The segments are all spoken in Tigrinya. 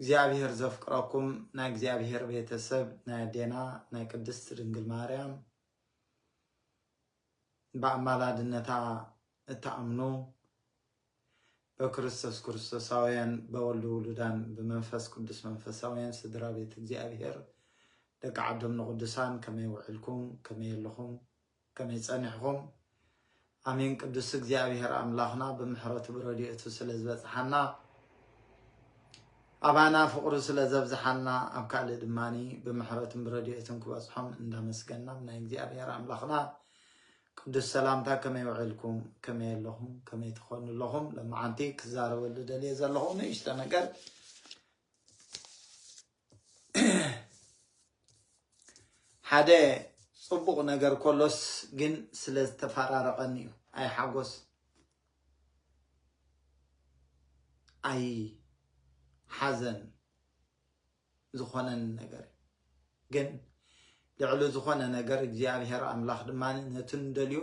እግዚኣብሔር ዘፍቅረኩም ናይ እግዚኣብሔር ቤተሰብ ናይ ኣዴና ናይ ቅድስት ድንግል ማርያም ብኣማላድነታ እትኣምኑ በክርስቶስ ክርስቶሳውያን በወልድ ውሉዳን ብመንፈስ ቅዱስ መንፈሳውያን ስድራ ቤት እግዚኣብሔር ደቂ ዓዶም ንቅዱሳን ከመይ ውዕልኩም ከመይ ኣለኹም ከመይ ጸኒሕኹም ኣሜን ቅዱስ እግዚኣብሔር ኣምላኽና ብምሕረቱ ብረድኤቱ ስለ ዝበጽሓና ኣባና ፍቕሩ ስለ ዘብዝሓልና ኣብ ካልእ ድማ ብምሕረቱን ብረድኤቱን ክበጽሖም እንዳመስገናም ናይ እግዚኣብሔር ኣምላኽና ቅዱስ ሰላምታ ከመይ ውዒልኩም ከመይ ኣለኹም ከመይ ትኾኑ ኣለኹም ለማዓንቲ ክዛረበሉ ደልየ ዘለኹ ንእሽተ ነገር ሓደ ጽቡቕ ነገር ኮሎስ ግን ስለ ዝተፈራረቐኒ እዩ ኣይ ሓጎስ ኣይ ሓዘን ዝኾነኒ ነገር ግን ልዕሊ ዝኾነ ነገር እግዚኣብሔር ኣምላኽ ድማ ነቲ ንደልዮ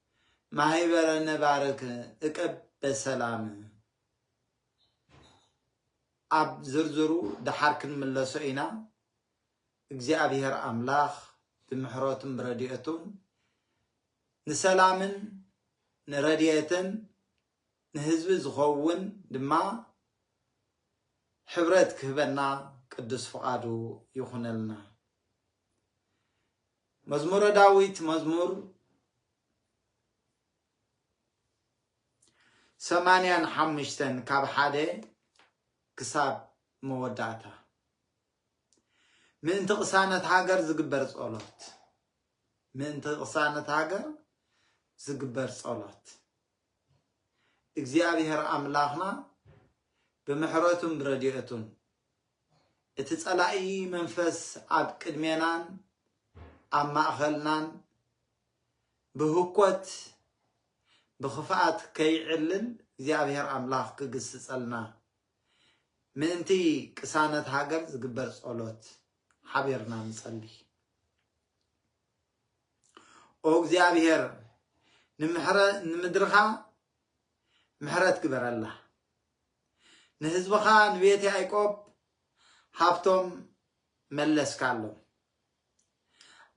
ማሂበረ ነባርክ እቀብ በሰላም ኣብ ዝርዝሩ ደሓር ክንምለሶ ኢና እግዚኣብሔር ኣምላኽ ብምሕረቱን ብረድኤቱን ንሰላምን ንረድኤትን ንህዝቢ ዝኸውን ድማ ሕብረት ክህበና ቅዱስ ፍቓዱ ይኹነልና። መዝሙረ ዳዊት መዝሙር ሰማንያን ሓሙሽተን ካብ ሓደ ክሳብ መወዳእታ ምእንቲ ቅሳነት ሃገር ዝግበር ጸሎት ምእንቲ ቅሳነት ሃገር ዝግበር ጸሎት እግዚኣብሔር ኣምላኽና ብምሕረቱን ብረድኤቱን እቲ ጸላኢ መንፈስ ኣብ ቅድሜናን ኣብ ማእኸልናን ብህኮት ብኽፍኣት ከይዕልል እግዚኣብሔር ኣምላኽ ክግስጸልና ምእንቲ ቅሳነት ሃገር ዝግበር ጸሎት ሓቢርና ንጸልይ። ኦ እግዚኣብሔር ንምድርኻ ምሕረት ግበረላ ንህዝብኻ ንቤት ያዕቆብ ሃብቶም መለስካሎም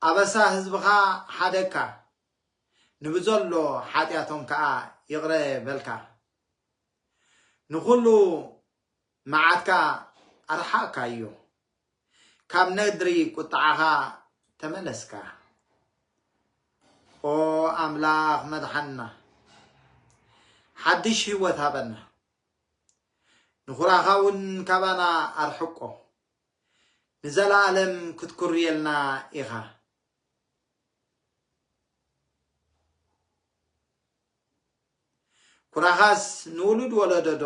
ኣበሳ ህዝብኻ ሓደካ ንብዘሎ ሓጢኣቶም ከዓ ይቕረ በልካ ንኹሉ መዓትካ ኣርሓቕካዮ፣ ካብ ነድሪ ቍጥዓኻ ተመለስካ። ኦ ኣምላኽ መድሓንና፣ ሓድሽ ህይወት ሃበና፣ ንዅራኻ እውን ካባና ኣርሕቆ፣ ንዘለኣለም ክትኵርየልና ኢኻ። ኩራኻስ ንውሉድ ወለዶዶ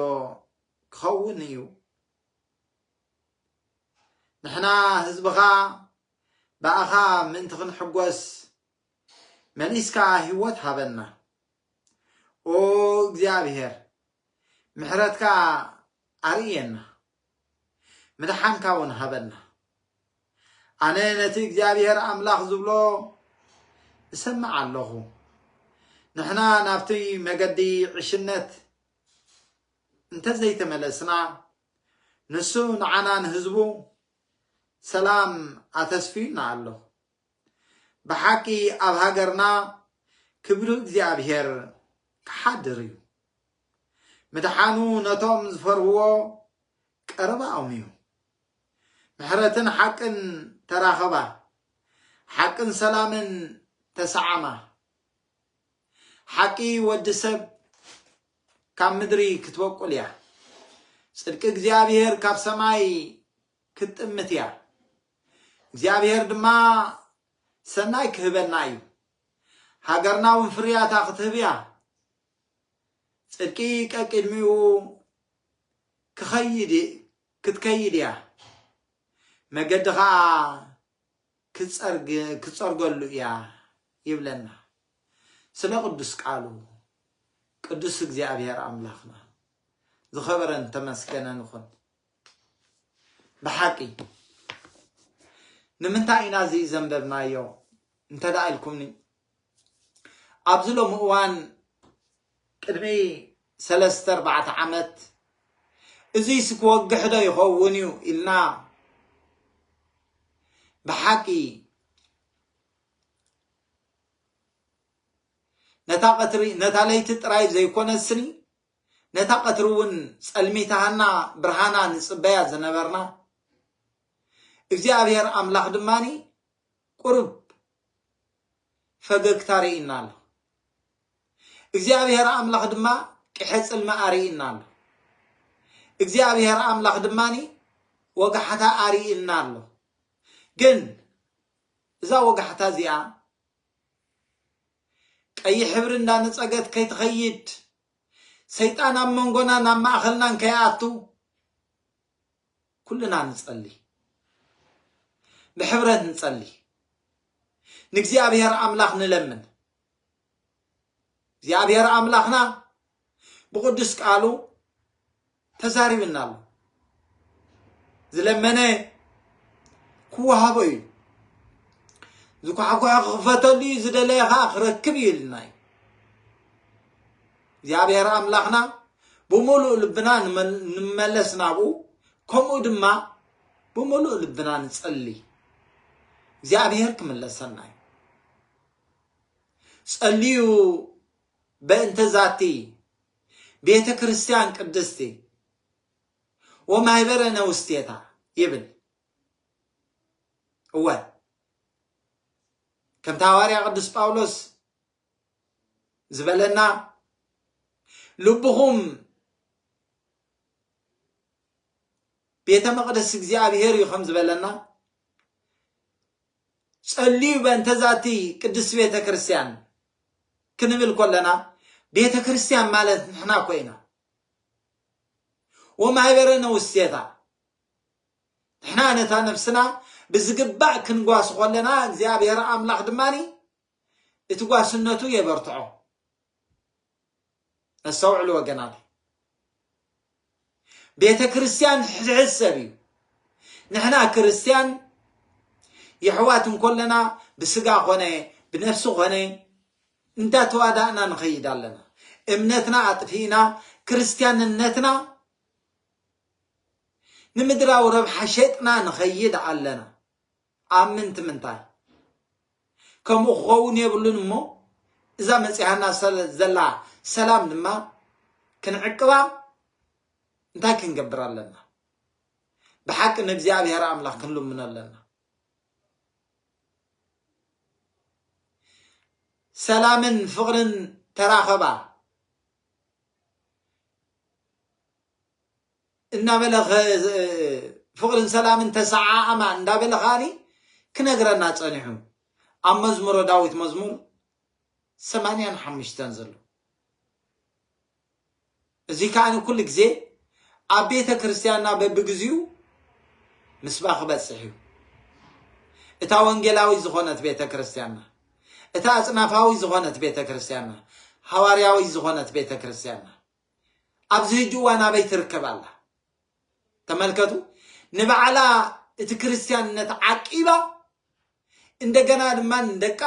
ክኸውን እዩ። ንሕና ህዝብኻ ብኣኻ ምእንቲ ክንሕጎስ መሊስካ ህይወት ሃበና። ኦ እግዚኣብሔር ምሕረትካ ኣርእየና፣ ምድሓንካ እውን ሃበና። ኣነ ነቲ እግዚኣብሔር ኣምላኽ ዝብሎ እሰምዕ ኣለኹ ንሕና ናብቲ መገዲ ዕሽነት እንተዘይተመለስና ንሱ ንዓና ንህዝቡ ሰላም ኣተስፍዩና ኣሎ። ብሓቂ ኣብ ሃገርና ክብሪ እግዚኣብሔር ክሓድር እዩ። ምድሓኑ ነቶም ዝፈርህዎ ቀረባኦም እዩ። ምሕረትን ሓቅን ተራኸባ፣ ሓቅን ሰላምን ተሰዓማ። ሓቂ ወዲ ሰብ ካብ ምድሪ ክትበቁል እያ፣ ጽድቂ እግዚኣብሔር ካብ ሰማይ ክትጥምት እያ፣ እግዚኣብሔር ድማ ሰናይ ክህበና እዩ፣ ሃገርና እውን ፍርያታ ክትህብ እያ፣ ጽድቂ ቀቂድሚኡ ክትከይድ እያ፣ መገዲ ከዓ ክትጸርገሉ እያ ይብለና ስለ ቅዱስ ቃሉ ቅዱስ እግዚኣብሔር ኣምላኽና ዝኸበረን ተመስገነን ይኹን ብሓቂ ንምንታይ ኢና እዚ ዘንበብናዮ እንተ ኢልኩምኒ ኣብዚ ሎሚ እዋን ቅድሚ ሰለስተ ኣርባዕተ ዓመት እዙይስ ክወግሕ ዶ ይኸውን እዩ ኢልና ብሓቂ ነታ ቀትሪ ነታ ለይቲ ጥራይ ዘይኮነስኒ ነታ ቀትሪ እውን ጸልሚታሃና ብርሃና ንጽበያ ዝነበርና እግዚኣብሔር ኣምላኽ ድማኒ ቁሩብ ፈገግታ ርእዩና ኣሎ። እግዚኣብሄር ኣምላኽ ድማ ቅሐ ጽልሚ ኣርእዩና ኣሎ። እግዚኣብሄር ኣምላኽ ድማኒ ወጋሕታ ኣርእዩና ኣሎ። ግን እዛ ወጋሕታ እዚኣ ቀይሕ ሕብሪ እንዳነጸገት ከይትኸይድ ሰይጣን ኣብ መንጎናን ኣብ ማእኸልናን ከይኣቱ ኩልና ንጸሊ ብሕብረት ንጸሊ ንእግዚኣብሔር ኣምላኽ ንለምን እግዚኣብሔር ኣምላኽና ብቅዱስ ቃሉ ተዛሪብና ኣሎ ዝለመነ ክወሃቦ እዩ ዝኳሕኳሐ ክኽፈተሉ እዩ ዝደለየ ከዓ ክረክብ እዩ ኢልና እዩ እግዚኣብሔር ኣምላኽና ብምሉእ ልብና ንመለስ ናብኡ ከምኡ ድማ ብምሉእ ልብና ንጸሊ እግዚኣብሔር ክምለሰና እዩ ጸልዩ በእንተ ዛቲ ቤተ ክርስቲያን ቅድስቲ ወማህበረ ነውስቴታ ይብል እወ ከምቲ ሃዋርያ ቅዱስ ጳውሎስ ዝበለና ልብኹም ቤተ መቕደስ እግዚኣብሔር እዩ ከም ዝበለና ጸልዩ በእንተ ዛቲ ቅድስት ቤተ ክርስቲያን ክንብል ኮለና ቤተ ክርስቲያን ማለት ንሕና ኮይና ወማሕበረ ነውስቴታ ንሕና ነታ ነፍስና ብዝግባእ ክንጓስ ኮለና እግዚኣብሔር ኣምላኽ ድማኒ እቲ ጓስነቱ የበርትዖ። ኣስተውዕሉ ወገናት፣ ቤተ ክርስቲያን ሕድሕድ ሰብ እዩ። ንሕና ክርስቲያን የሕዋት እንኮለና ብስጋ ኮነ ብነፍሲ ኮነ እንዳተዋዳእና ንኸይድ ኣለና። እምነትና ኣጥፊእና ክርስቲያንነትና ንምድራዊ ረብሓ ሸጥና ንኸይድ ኣለና። ኣብ ምንቲ ምንታይ ከምኡ ክኸውን የብሉን እሞ እዛ መጺኣና ዘላ ሰላም ድማ ክንዕቅባ እንታይ ክንገብር ኣለና? ብሓቂ ንእግዚኣብሔር ኣምላኽ ክንልምኖ ኣለና። ሰላምን ፍቕርን ተራኸባ እናበለ ፍቕርን ሰላምን ተሰዓዓማ እንዳበለ ከኣኒ ክነግረና ጸኒሑ ኣብ መዝሙረ ዳዊት መዝሙር ሰማንያን ሓምሽተን ዘሎ እዚ ከኣኒ ኩሉ ግዜ ኣብ ቤተ ክርስቲያንና በብግዚኡ ምስባ ክበጽሕ እዩ እታ ወንጌላዊ ዝኾነት ቤተ ክርስቲያንና እታ ኣጽናፋዊ ዝኾነት ቤተ ክርስቲያንና ሃዋርያዊ ዝኾነት ቤተ ክርስቲያንና ኣብዚ ሕጂ እዋን ኣበይ ትርከብ ኣላ? ተመልከቱ፣ ንባዕላ እቲ ክርስትያንነት ዓቂባ እንደገና ድማ ንደቃ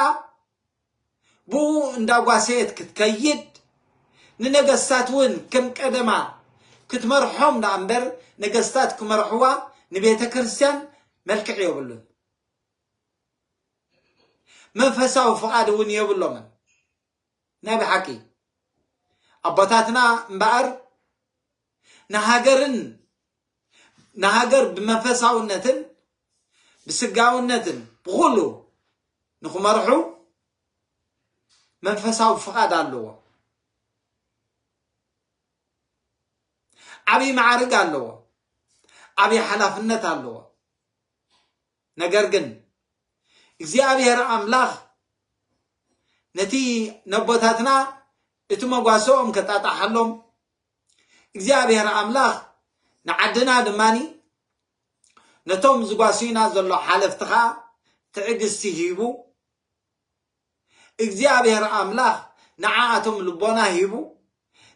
ብኡ እንዳጓሰየት ክትከይድ ንነገስታት እውን ከም ቀደማ ክትመርሖም ደኣ እምበር ነገስታት ክመርሕዋ ንቤተ ክርስቲያን መልክዕ የብሉን መንፈሳዊ ፍቓድ እውን የብሎምን ናይ ብሓቂ ኣቦታትና እምበኣር ንሃገርን ንሃገር ብመንፈሳውነትን ብስጋውነትን ብኹሉ ንኽመርሑ መንፈሳዊ ፍቓድ ኣለዎ ዓብዪ መዓርግ ኣለዎ ዓብዪ ሓላፍነት ኣለዎ ነገር ግን እግዚኣብሔር ኣምላኽ ነቲ ነቦታትና እቲ መጓሰኦም ከጣጣሓሎም እግዚኣብሔር ኣምላኽ ንዓድና ድማኒ ነቶም ዝጓስዩና ዘሎ ሓለፍቲ ከዓ ትዕግስቲ ሂቡ እግዚኣብሔር ኣምላኽ ንዓኣቶም ልቦና ሂቡ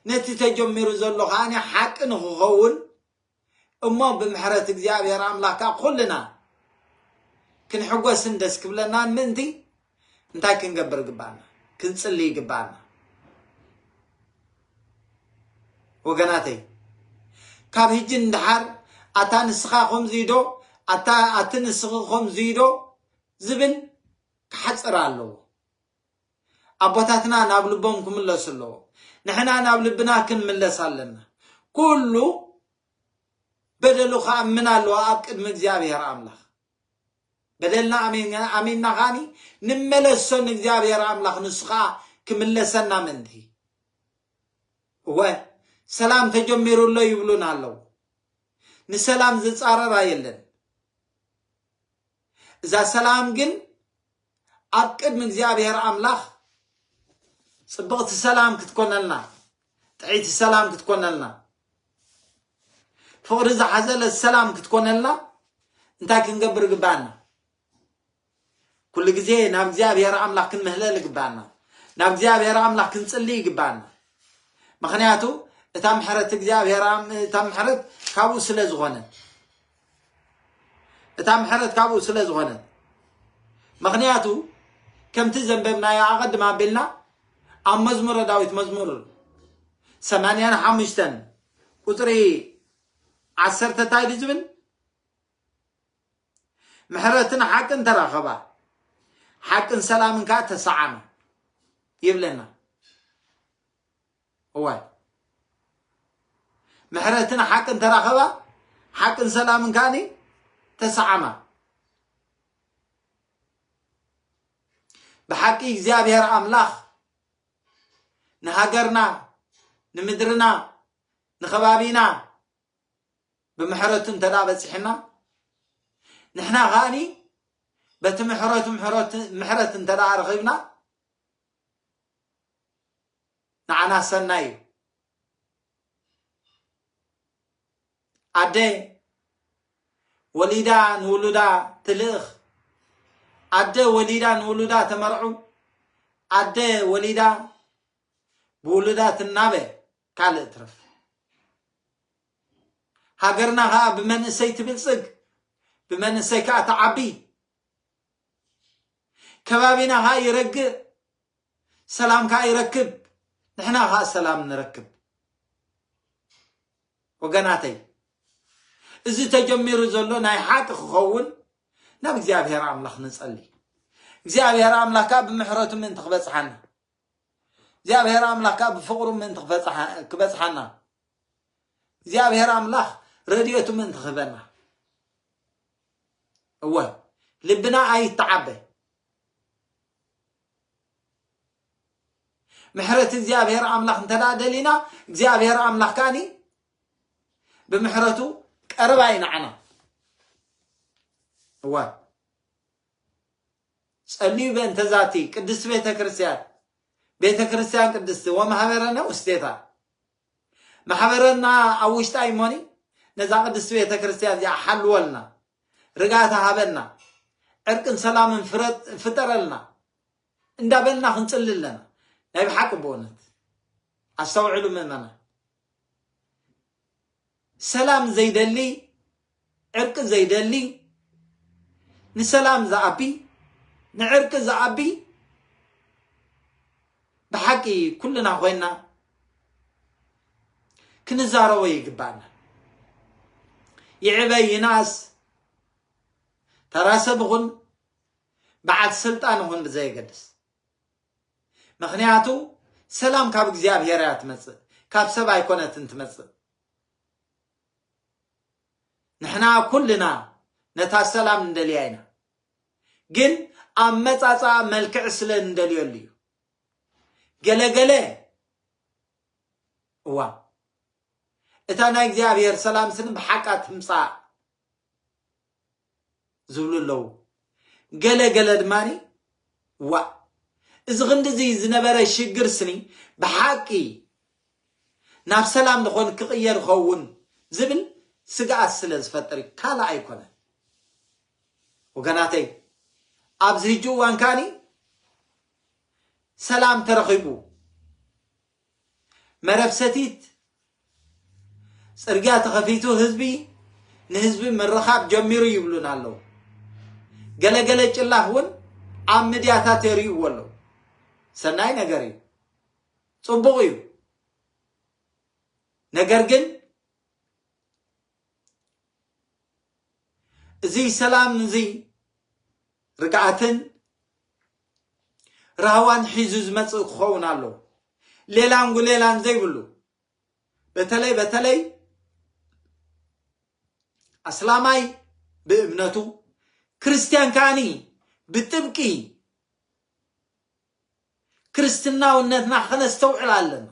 ነቲ ተጀሚሩ ዘሎ ከዓኒ ሓቂ ንክኸውን እሞ ብምሕረት እግዚኣብሔር ኣምላክ ከኣ ኩልና ክንሕጎስን ደስ ክብለናን ምእንቲ እንታይ ክንገብር ይግብኣና ክንጽሊ ይግብኣና ወገናተይ ካብ ህጂ ንድሓር ኣታ ንስኻ ከምዙይ ዶ ኣታ ኣቲ ንስኺ ከምዙይ ዶ ዝብል ክሓፅር ኣለዎ ኣቦታትና ናብ ልቦም ክምለሱ ኣለዎም ንሕና ናብ ልብና ክንምለስ ኣለና ኩሉ በደሉ ክኣምን ኣለዎ ኣብ ቅድሚ እግዚኣብሔር ኣምላኽ በደልና ኣሚንና ኻኒ ንመለሶ ንእግዚኣብሔር ኣምላኽ ንሱ ከዓ ክምለሰና ምንቲ እወ ሰላም ተጀሚሩ ኣሎ ይብሉን ኣለዉ ንሰላም ዝፃረራ የለን እዛ ሰላም ግን ኣብ ቅድሚ እግዚኣብሔር ኣምላኽ ጽብቕቲ ሰላም ክትኮነልና፣ ጥዕይቲ ሰላም ክትኮነልና፣ ፍቕሪ ዝሓዘለት ሰላም ክትኮነልና እንታይ ክንገብር ይግባኣና? ኩሉ ግዜ ናብ እግዚኣብሔር ኣምላኽ ክንምህለል ይግባኣና። ናብ እግዚኣብሔር ኣምላኽ ክንጽሊ ይግባኣና። ምክንያቱ እታ ምሕረት እግዚኣብሔር እታ ምሕረት ካብኡ ስለ ዝኾነ እታ ምሕረት ካብኡ ስለ ዝኾነት ምኽንያቱ ከምቲ ዘንበብናዮ ኣቐድም ኣቢልና ኣብ መዝሙረ ዳዊት መዝሙር ሰማንያን ሓሙሽተን ቁፅሪ ዓሰርተ እንታይ ዱ ዝብል ምሕረትን ሓቅን ተራኸባ ሓቅን ሰላምን ከዓ ተሰዓመ ይብለና እዋይ ምሕረትን ሓቅን ተራኸባ ሓቅን ሰላምን ከዓኒ ተሰዓማ ብሓቂ እግዚኣብሔር ኣምላኽ ንሃገርና ንምድርና ንኸባቢና ብምሕረቱ እንተ በፂሕና ንሕና ከዓኒ በቲ ምሕረቱ ምሕረት እንተ ረኺብና ንዓና ሰናይ እዩ። ኣደ ወሊዳ ንውሉዳ ትልእኽ፣ ኣደ ወሊዳ ንውሉዳ ተመርዑ፣ ኣደ ወሊዳ ብውሉዳ ትናበ ካልእ ትርፍ ሃገርና ከዓ ብመንእሰይ ትብልፅግ ብመንእሰይ ከዓ ተዓቢ ከባቢና ከኣ ይረግእ፣ ሰላም ከኣ ይረክብ፣ ንሕና ከኣ ሰላም ንረክብ። ወገናተይ እዚ ተጀሚሩ ዘሎ ናይ ሓቂ ክኸውን ናብ እግዚኣብሔር ኣምላኽ ንጸሊ። እግዚኣብሔር ኣምላኽ ከኣ ብምሕረቱ ምእንቲ ክበጽሓና እግዚኣብሔር ኣምላኽ ከኣ ብፍቕሩ ምእንቲ ክበጽሓ- ክበጽሓና እግዚኣብሔር ኣምላኽ ረድኤቱ ምእንቲ ክህበና እወ ልብና ኣይተዓበ ምሕረት እግዚኣብሔር ኣምላኽ እንተ ደኣ ደሊና እግዚኣብሔር ኣምላኽ ከኣኒ ብምሕረቱ ቀረባ እዩ ንዓና እወ ጸልዩ በእንተ ዛቲ ቅድስት ቤተ ክርስቲያን ቤተ ክርስቲያን ቅድስቲ ወማሕበረነ ውስቴታ ማሕበረና ኣብ ውሽጣ ይሞኒ ነዛ ቅድስት ቤተ ክርስቲያን እዚኣ ሓልወልና ርጋታ ሃበና ዕርቅን ሰላምን ፍጠረልና እንዳበልና ክንጽሊ ኣለና ናይ ብሓቂ ብእውነት ኣስተውዕሉ ምእመና ሰላም ዘይደሊ ዕርቂ ዘይደሊ ንሰላም ዝኣቢ ንዕርቂ ዝኣቢ ብሓቂ ኩልና ኮይና ክንዛረቦ ይግባና ይዕበ ይናስ ተራ ሰብ ይኹን በዓል ስልጣን ይኹን ብዘየገድስ ምኽንያቱ ሰላም ካብ እግዚኣብሔር እያ ትመጽእ ካብ ሰብ ኣይኮነትን ትመጽእ ንሕና ኩልና ነታ ሰላም እንደልያ ኢና ግን ኣብ መጻጻ መልክዕ ስለ እንደልየሉ እዩ ገለገለ እዋ እታ ናይ እግዚኣብሔር ሰላም ስን ብሓቃ ትምጻእ ዝብሉ ኣለዉ። ገለ ገለ ድማ ዋእ እዚ ክንድዚ ዝነበረ ሽግር ስኒ ብሓቂ ናብ ሰላም ንኾን ክቕየር ኸውን ዝብል ስግኣት ስለ ዝፈጥር እዩ ካልእ ኣይኮነን። ወገናተይ ኣብዚ ህጂ እዋን ከኣኒ ሰላም ተረኺቡ መረብ ሰቲት ጽርግያ ተኸፊቱ ህዝቢ ንህዝቢ ምርኻብ ጀሚሩ ይብሉና ኣለዉ። ገለገለ ጭላህ እውን ኣብ ምድያታት የርእይዎ ኣለዉ። ሰናይ ነገር እዩ፣ ጽቡቕ እዩ። ነገር ግን እዚ ሰላም እዚ ርግኣትን ራህዋን ሒዙ ዝመጽእ ክኸውን ኣለዎ። ሌላን ጉሌላን ዘይብሉ በተለይ በተለይ ኣስላማይ ብእምነቱ ክርስትያን ከዓኒ ብጥብቂ ክርስትናውነትና ከነስተውዕል ኣለና።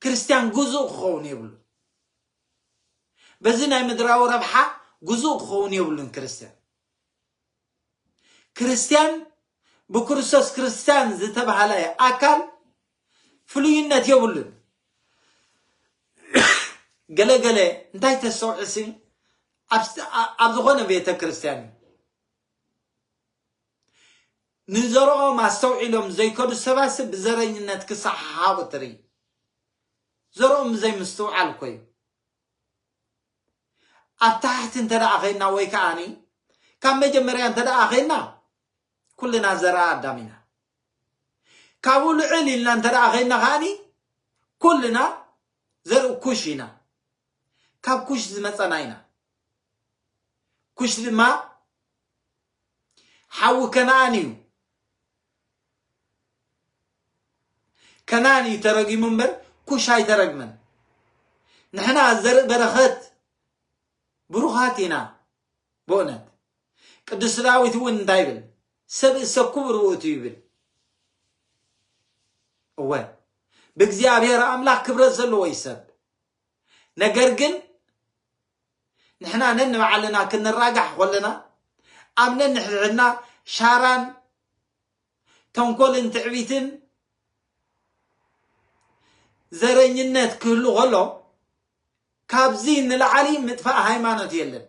ክርስትያን ግዙእ ክኸውን የብሉን። በዚ ናይ ምድራዊ ረብሓ ግዙእ ክኸውን የብሉን ክርስትያን። ክርስትያን ብክርስቶስ ክርስትያን ዝተባህለ ኣካል ፍሉይነት የብሉን። ገለ ገለ እንታይ ተስተውዕሲ ኣብ ዝኾነ ቤተ ክርስትያን እዩ ንዘረኦም ኣስተውዒሎም ዘይከዱ ሰባትሲ ብዘረኝነት ክሰሓሓቡ ትርኢ። ዘረኦም ብዘይ ምስትውዓል እኮ እዩ። ኣብ ታሕቲ እንተደኣ ኸይና ወይ ከዓኒ ካብ መጀመርያ እንተደኣ ኸይና ኩልና ዘረኣ ኣዳም ኢና። ካብኡ ልዕል ኢልና እንተደኣ ኸይና ከዓኒ ኩልና ዘርኢ ኩሽ ኢና። ካብ ኩሽ ዝመፀና ኢና። ኩሽ ድማ ሓዊ ከነኣን እዩ ከነኣን እዩ ተረጊሙ እምበር ኩሽ ኣይተረግመን ንሕና ዘርኢ በረኸት ብሩኻት ኢና ብእውነት ቅዱስ ዳዊት እውን እንታይ ይብል ሰብ እሰኩብ ርውእቱ ይብል እወ ብእግዚኣብሔር ኣምላኽ ክብረት ዘለዎ ይሰብ ነገር ግን ንሕና ነንባዕልና ክንራጋሕ ኮለና ኣብ ነንሕድሕድና ሻራን ተንኮልን ትዕቢትን ዘረኝነት ክህሉ ከሎ ካብዚ ንላዕሊ ምጥፋእ ሃይማኖት የለን።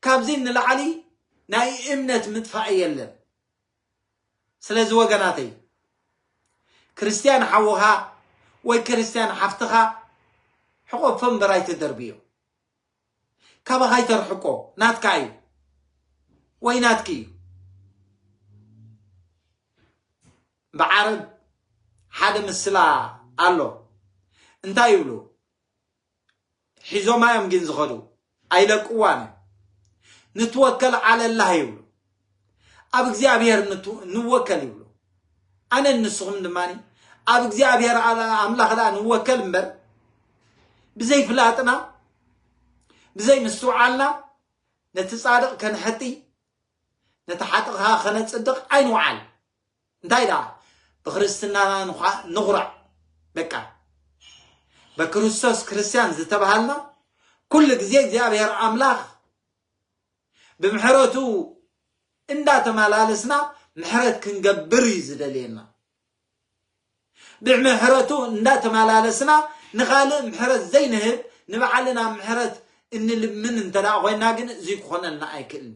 ካብዚ ንላዕሊ ናይ እምነት ምጥፋእ የለን ስለዚ ወገናተይ ክርስትያን ሓውኻ ወይ ክርስትያን ሓፍትኻ ሕቆፎ እምበር ኣይትደርብዮ ካባኻ ይተርሕቆ ናትካ እዩ ወይ ናትኪ እዩ ብዓረብ ሓደ ምስላ ኣሎ እንታይ ይብሉ ሒዞማ እዮም ግን ዝኸዱ ኣይለቅዋን እዮም ንትወከል ዓለላህ ይብሉ ኣብ እግዚኣብሔር ንወከል ይብሉ ኣነ ንስኹም ድማ ኣብ እግዚኣብሔር ኣምላኽ ዳ ንወከል እምበር ብዘይ ፍላጥና ብዘይ ምስትውዓልና ነቲ ጻድቕ ከንሐጢ ነቲ ሓጥኻ ከነጽድቕ ኣይንውዓል እንታይ ደኣ ብክርስትናና ንዃ- ንኹራዕ በቃ በክርስቶስ ክርስትያን ዝተባሃልና ኩሉ ግዜ እግዚኣብሔር ኣምላኽ ብምሕረቱ እንዳተመላለስና ምሕረት ክንገብር እዩ ዝደልየና ብምሕረቱ እንዳተመላለስና ንኻልእ ምሕረት ዘይንህብ ንባዕልና ምሕረት እንልምን እንተ ደኣ ኮይና ግን እዚ ክኾነልና ኣይክእልን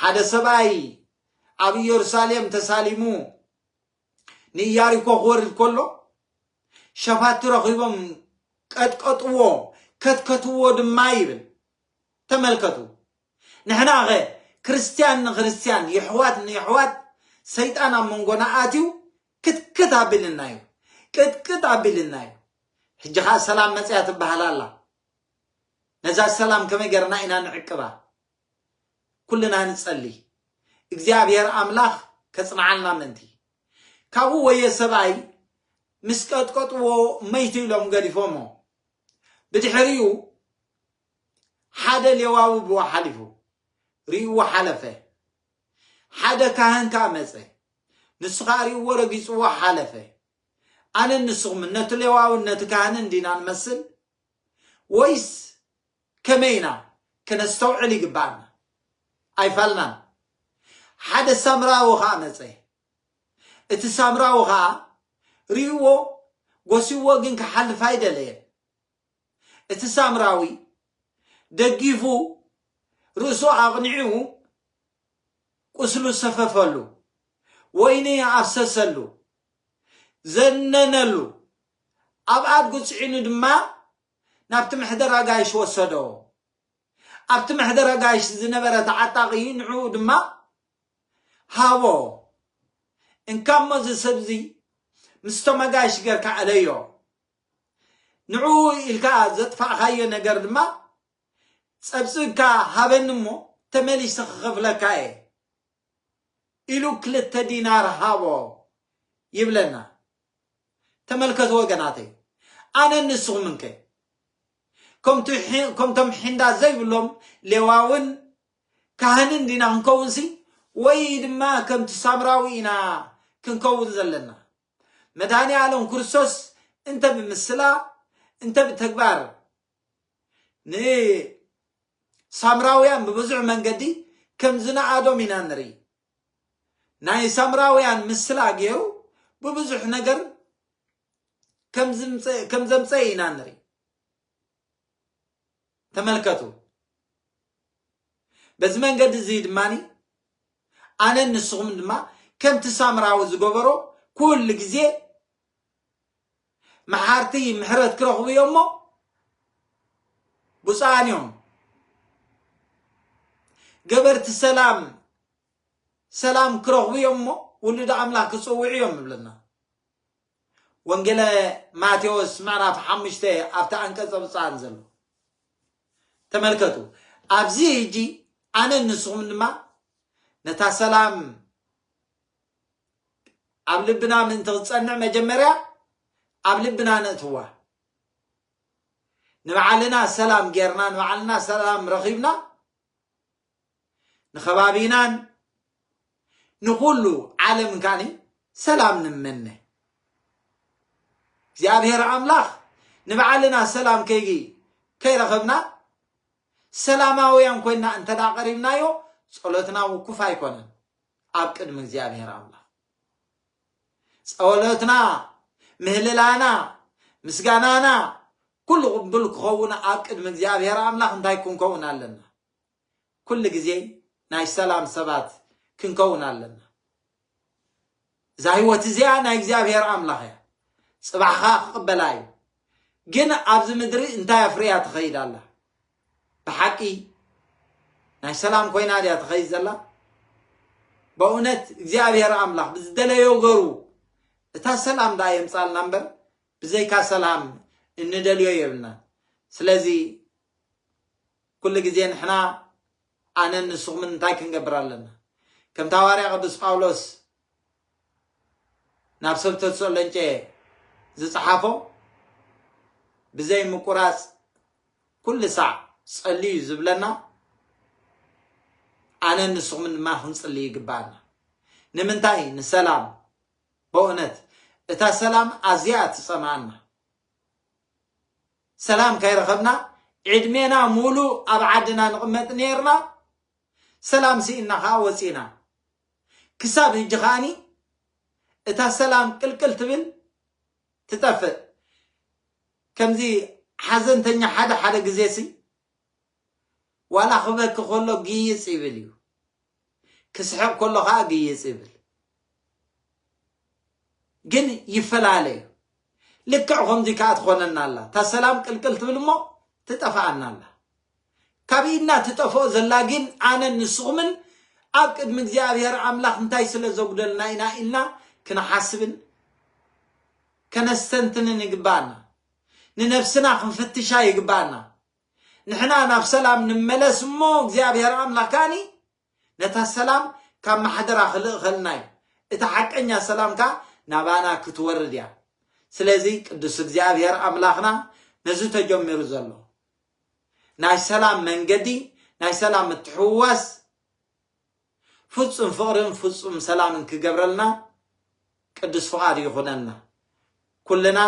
ሓደ ሰብኣይ ኣብ ኢየሩሳሌም ተሳሊሙ ንኢያሪኮ ክወርድ ከሎ ሸፋቲ ረኺቦም ቀጥቀጥዎ ከትከትዎ ድማ ይብል ተመልከቱ ንሕናኸ ክርስትያን ንክርስትያን የሕዋት ንየሕዋት ሰይጣን ኣብ መንጎና ኣትዩ ክትክት ኣቢልና እዩ ቅጥቅጥ ኣቢልና እዩ ሕጂ ከዓ ሰላም መፅያ ትበሃል ኣላ ነዛ ሰላም ከመይ ገርና ኢና ንዕቅባ ኩልና ንጸሊ እግዚኣብሔር ኣምላኽ ከጽንዓልና ምእንቲ ካብኡ ወየ ሰብኣይ ምስ ቀጥቀጥዎ መይቱ ኢሎም ገዲፎሞ ብድሕሪኡ ሓደ ሌዋዊ ብኡ ሓሊፉ ሪእዎ ሓለፈ ሓደ ካህን ከኣ መጸ ንሱ ከኣ ሪእዎ ረጊጽዎ ሓለፈ ኣነ ንስኹም ነቲ ሌዋውን ነቲ ካህንን ዲና ንመስል ወይስ ከመይ ኢና ከነስተውዕል ይግብኣና ኣይፋልናን ሓደ ሳምራዊ ከኣ መጸ እቲ ሳምራዊ ከኣ ሪእዎ ጎሲዎ ግን ክሓልፍ ኣይደለየን እቲ ሳምራዊ ደጊፉ ርእሱ ኣቕኒዑ ቁስሉ ሰፈፈሉ ወይኒ ኣፍሰሰሉ ዘነነሉ ኣብ ኣድጉ ጽዒኑ ድማ ናብቲ ምሕደራ ጋይሽ ወሰዶ። ኣብቲ ምሕደራ ጋይሽ ዝነበረ ተዓጣቒ ንዕኡ ድማ ሃቦ። እንካ እሞ እዚ ሰብዚ ምስቶም ኣጋይሽ ጌርካ እለዮ። ንዕኡ ኢልካ ዘጥፋእኻዮ ነገር ድማ ጸብጽብካ ሃበኒ እሞ ተመሊሰ ክኸፍለካ እየ። ኢሉ ክልተ ዲናር ሃቦ ይብለና ተመልከቱ ወገናተይ ኣነን ንስኹምን ከ ከምቱ ሒ- ከምቶም ሒንዳ ዘይብሎም ሌዋውን ካህንን ዲና ክንከውንሲ ወይ ድማ ከምቲ ሳምራዊ ኢና ክንከውን ዘለና መድኃኔ ዓለም ክርስቶስ እንተ ብምስላ እንተ ብተግባር ንሳምራውያን ብብዙሕ መንገዲ ከም ዝነኣዶም ኢና ንርኢ። ናይ ሳምራውያን ምስላ ገይሩ ብብዙሕ ነገር ከም ዘምፀ ኢና ንርኢ። ተመልከቱ። በዚ መንገዲ እዚ ድማኒ ኣነን ንስኹም ድማ ከምቲ ሳምራዊ ዝገበሮ ኩሉ ግዜ መሓርቲ ምሕረት ክረኽቡ እዮም እሞ ብፁዓን እዮም ገበርቲ ሰላም ሰላም ክረኽቡ እዮም እሞ ውሉድ ኣምላኽ ክፅውዑ እዮም ይብለና ወንጌለ ማቴዎስ ምዕራፍ ሓሙሽተ ኣብቲ ኣንቀጸ ብፁዓን ዘሎ ተመልከቱ ኣብዚ ሕጂ ኣነ ንስኹም ድማ ነታ ሰላም ኣብ ልብና ምእንቲ ክትጸንዕ መጀመርያ ኣብ ልብና ነእትዋ ንባዕልና ሰላም ጌርና ንባዕልና ሰላም ረኺብና ንኸባቢናን ንኹሉ ዓለም ካኒ ሰላም ንመነ እግዚኣብሔር ኣምላኽ ንባዕልና ሰላም ከይ ከይረኸብና ሰላማውያን ኮይና እንተ ቀሪብናዮ ጸሎትና ውኩፍ ኣይኮነን ኣብ ቅድሚ እግዚኣብሔር ኣምላኽ ጸወሎትና ምህልላና ምስጋናና ኩሉ ቅቡል ክኸውን ኣብ ቅድሚ እግዚኣብሔር ኣምላኽ እንታይ ክንከውን ኣለና ኩሉ ግዜ ናይ ሰላም ሰባት ክንከውን ኣለና እዛ ህይወት እዚኣ ናይ እግዚኣብሔር ኣምላኽ እያ፣ ጽባሕ ከኣ ክቕበላ እዩ። ግን ኣብዚ ምድሪ እንታይ ኣፍርያ ትኸይድ ኣላ? ብሓቂ ናይ ሰላም ኮይና ድያ ትኸይድ ዘላ? በእውነት እግዚኣብሔር ኣምላኽ ብዝደለዮ ገሩ እታ ሰላም ደኣ የምጻልና እምበር ብዘይካ ሰላም እንደልዮ የብልና ስለዚ ኩሉ ግዜ ንሕና ኣነን ንስኹምን እንታይ ክንገብር ኣለና? ከምቲ ሃዋርያ ቅዱስ ጳውሎስ ናብ ሰብ ተሰሎንቄ ዝጸሓፎ ብዘይ ምቁራጽ ኩሉ ሳዕ ጸልዩ ዝብለና ኣነን ንስኹምን ድማ ክንጽሊ ይግባኣና። ንምንታይ? ንሰላም። በእውነት እታ ሰላም ኣዝያ እያ ትጸምኣና። ሰላም ከይረኸብና ዕድሜና ሙሉእ ኣብ ዓድና ንቕመጥ ኔርና ሰላም ሲኢንና ከኣ ወጺእና ክሳብ ህጂ ከኣኒ እታ ሰላም ቅልቅል ትብል ትጠፍእ ከምዚ ሓዘንተኛ ሓደ ሓደ ግዜሲ ዋላ ክበኪ ከሎ ግይጽ ይብል እዩ ክስሕቕ ከሎ ከኣ ግይጽ ይብል ግን ይፈላለ እዩ ልክዕ ከምዚ ከኣ ትኾነና ኣላ እታ ሰላም ቅልቅል ትብል እሞ ትጠፍኣና ኣላ ካብ ኢድና ትጠፍኦ ዘላ ግን ኣነን ንስኹምን ኣብ ቅድሚ እግዚኣብሔር ኣምላኽ እንታይ ስለ ዘጉደልና ኢና ኢልና ክንሓስብን ከነስተንትንን ይግባኣና ንነፍስና ክንፍትሻ ይግባኣና ንሕና ናብ ሰላም ንመለስ እሞ እግዚኣብሔር ኣምላክ ከኣኒ ነታ ሰላም ካብ ማሕደራ ክልእኸልና እዩ እቲ ሓቀኛ ሰላም ከኣ ናባና ክትወርድ እያ ስለዚ ቅዱስ እግዚኣብሔር ኣምላክና ነዚ ተጀሚሩ ዘሎ ናይ ሰላም መንገዲ ናይ ሰላም ምትሕውዋስ ፍጹም ፍቕርን ፍጹም ሰላምን ክገብረልና ቅዱስ ፍቓዱ ይኹነልና። ኩልና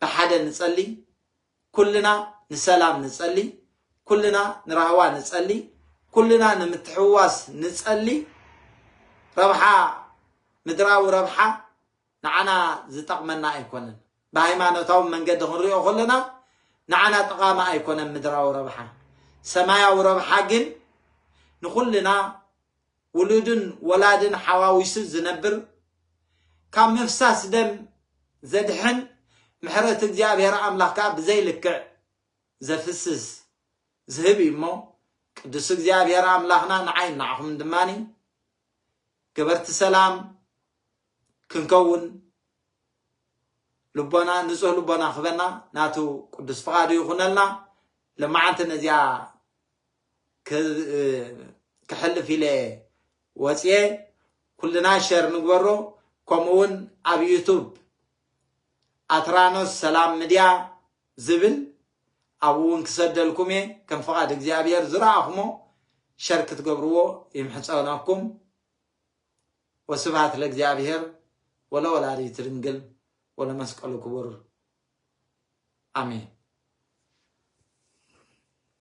ብሓደ ንጸሊ፣ ኩልና ንሰላም ንጸሊ፣ ኩልና ንራህዋ ንጸሊ፣ ኩልና ንምትሕውዋስ ንጸሊ፣ ረብሓ ምድራዊ ረብሓ ንዓና ዝጠቕመና ኣይኮነን። ብሃይማኖታዊ መንገዲ ክንሪኦ ከሎና ንዓና ጠቓሚ ኣይኮነን ምድራዊ ረብሓ። ሰማያዊ ረብሓ ግን ንኹልና ውሉድን ወላድን ሓዋዊሱ ዝነብር ካብ ምፍሳስ ደም ዘድሕን ምሕረት እግዚኣብሔር ኣምላኽ ከኣ ብዘይ ልክዕ ዘፍስስ ዝህብ እዩ እሞ ቅዱስ እግዚኣብሔር ኣምላኽና ንዓይ ንዓኹም ድማ ገበርቲ ሰላም ክንከውን ልቦና ንጹህ ልቦና ክበና ናቱ ቅዱስ ፍቃዱ ይኹነልና ለማዓንቲ ነዚኣ ክሕልፍ ኢለ ወፅየ ኩልና ሸር ንግበሮ ከምኡ እውን ኣብ ዩቱብ ኣትራኖስ ሰላም ምድያ ዝብል ኣብኡ እውን ክሰደልኩም እየ ከም ፍቓድ እግዚኣብሔር ዝረኣኹሞ ሸር ክትገብርዎ ይምሕፀነኩም ወስብሃት ለእግዚኣብሔር ወለወላዲቱ ድንግል ወለመስቀሉ ክቡር ኣሜን።